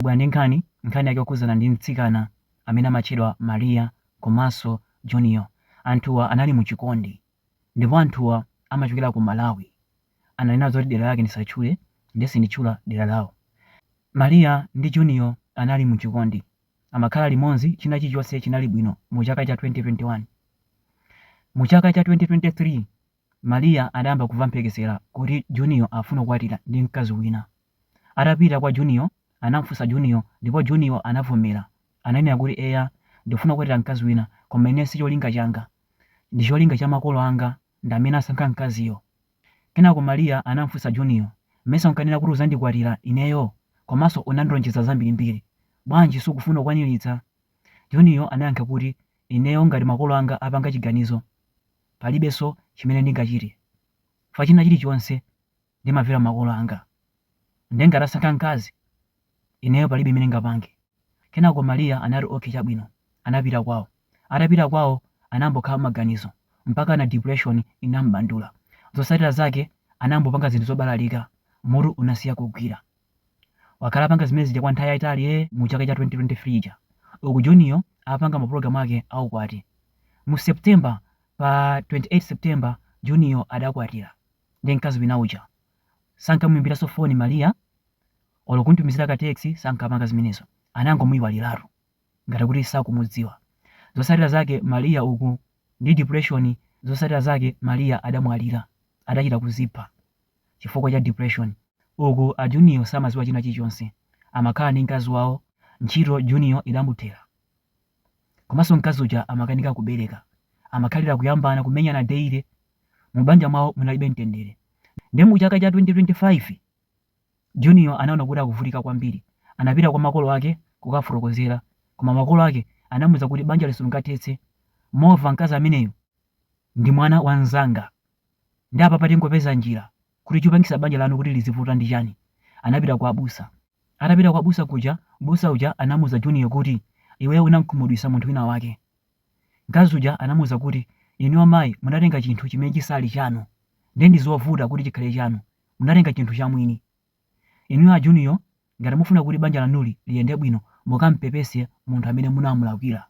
Tabwera ndi nkhani, nkhani yake yokhudzana ndi mtsikana amene amatchedwa Maria komanso Junior. Anthuwa anali mu chikondi ndipo anthuwa amachokera ku Malawi. Ananena zoti dera lake ndisatchule ndiye sinditchula dera lawo. Maria ndi Junior anali mu chikondi, amakhala limodzi, china chilichonse chinali bwino mu chaka cha 2021. Mu chaka cha 2023. Maria adayamba kumva mphekesera kuti Junior afuna kukwatira ndi mkazi wina. Atapita kwa Junior anamufunsa Junior ndipo Junior anavomera. Ananena kuti eya ndifuna kukwatira mkazi wina koma ine si cholinga changa. Ndi cholinga cha makolo anga ndi amene asankha mkaziyo. Kenako Maria anamufunsa Junior mesa unkanena kuti uzandikwatira ineyo komanso unandilonjeza zambirimbiri bwanji sukufuna kukwaniritsa? Junior anayankha kuti ineyo ngati makolo anga apanga chiganizo. Palibenso chimene ndingachite fa china chilichonse ndimamvera makolo anga. Ndiye ngati asankha mkazi, ineyo palibe imene ngapange. Kenako Maria anati okay chabwino. Anapita kwawo. Atapita kwawo anayambokhala maganizo mpakana depression inam'bandula. Zotsatira zake anayambopanga zinthu zobalalika, mutu unasiya kugwira. Wakhala apanga zimene zija kwa nthawi yaitali ee mu chaka cha 2023 ija. Uku Junior apanga mapulogalamu ake a ukwati. Mu September pa 28 September Junior adakwatira ndi mkazi wina uja. Sankamuimbiranso foni Maria olo kumtumizira ka text sankapanga zimenezo. Anangomuiwaliratu ngati kuti sakumudziwa. Zotsatira zake Maria uku ndi depression zotsatira zake Maria adamwalira. Adachita kuzipha. chifukwa cha depression uku a Junior samaziwa china chilichonse amakhala ndi mkazi wawo ntchito Junior idamuthera komanso mkazi uja amakanika kubereka amakhalira kuyambana kumenyana daily mu banja mwawo munalibe mtendere nde mu chaka cha 2025 Junior anaona kuti akuvutika kwambiri anapita kwa makolo ake kukafotokozera koma makolo ake anamuuza kuti banjali sungathetse mova mkazi ameneyo ndi mwana wa mzanga Nde apapa tingopeza njira kuti chupangisa banja lanu kuti lizivuta ndi chani? Anapita kwa abusa. Atapita kwa abusa kuja, mbusa uja anamuuza Junior kuti, Iweyo unamkhumudwisa munthu wina wake. Mkazi uja anamuuza kuti, Inuyo mayi munatenga chinthu chimene chisali chanu. Nde ndizovuta kuti chikhale chanu. Munatenga chinthu chamwini. Inuyo a Junior ngati mufuna kuti banja lanuli liyende bwino mukampepese munthu amene munamulakwira.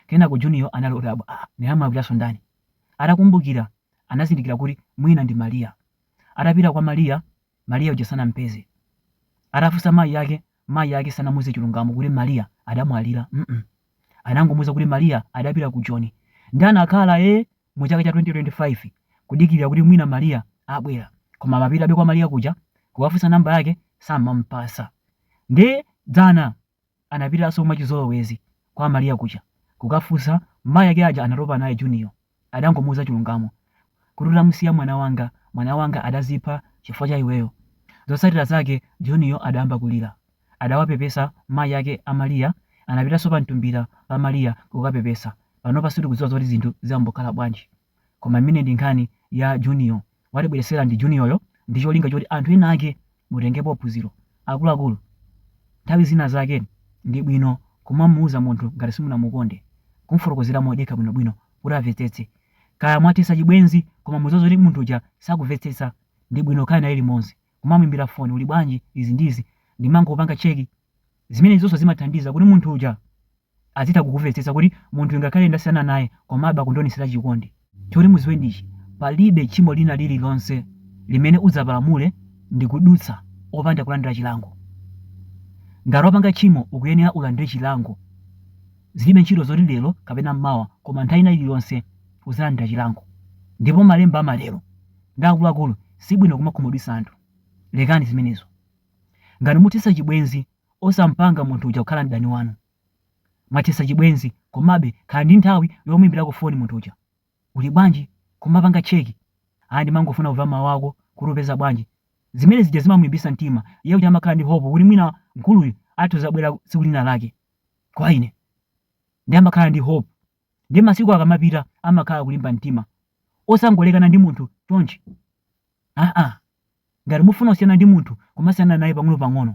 Kenako Junior anali odabwa aah ndinamulakwiranso ndani? Atakumbukira anazindikira kuti mwina ndi Maria. Atapita kwa Maria, Maria uja sanampeze. Atafunsa mayi ake, mayi ake sanamuuze chilungamo kuti Maria adamwalira mm anangomuuza kuti Maria adapita ku Joni nde anakhala eeh! mu chaka cha 2025 kudikilira kuti mwina Maria abwera koma amapitabe kwa Maria kuja kukafunsa number yake samamupasa ndiye dzana anapitaso mwachizolowezi kwa Maria kuja kukafunsa mayi ake aja anatopa naye Junior adangomuuza chilungamo kuti utamusiya mwana wanga mwana wanga adazipha chifukwa cha iweyo zotsatira zake Junior adayamba kulira adawapepesa mayi ake a Maria anapitanso pa mtumbira pa Maria kukapepesa panopa sitikudziwa zoti zinthu zambokhala bwanji koma imeneyi ndi nkhani ya Junior watibweretsera ndi Junior yo ndi cholinga choti anthu ena ake mutengepo phunziro akuluakulu nthawi zina zake ndi bwino kumamuuza munthu ngati simunamukonde kumufotokozera modekha bwinobwino kuti avetsetse kaya mwathetsa chibwenzi koma mudziwa zoti munthu uja sakuvetsetsa ndi bwino kukhala naye limodzi kumamuimbira foni uli bwanji izi ndi izi ndimangopanga check zimenezoso zimathandiza kuti munthu uja azitha kukuvetsetsa kuti munthuyi ngakhale ndasiyana naye komabe akundionesera chikondi choti muziwe ndi ichi palibe tchimo lina lililonse limene udzapalamule ndikudutsa opanda kulandira chilango ngati wapanga tchimo ukuyenera ulandire chilango zilibe ntchito zoti lero kapena mmawa koma nthawi ina iliyonse uzalandira chilango ndipo malemba amatero ndi akuluakulu sibwino kumakhumudwisa anthu lekani zimenezo ngati muthesa chibwenzi osampanga munthu uja kukhala mdani wanu mwathesa chibwenzi komabe khala ndi nthawi yomuimbirako foni munthu uja uli bwanji kumapanga cheki aya ndimangofuna kuva mawu ako kuti upeza bwanji zimene zija zimamulimbisa mtima iye kuti amakhala ndi hope kuti mwina mkuluyu atha kuzabwera tsiku lina lake kwa ine ndi amakhala ndi hope Ndiye masiku akamapita amakhala akulimba mtima osangolekana ndi munthu chonchi aa. Ngati mufuna kusiyana ndi munthu kumasiyana naye pang'onopang'ono.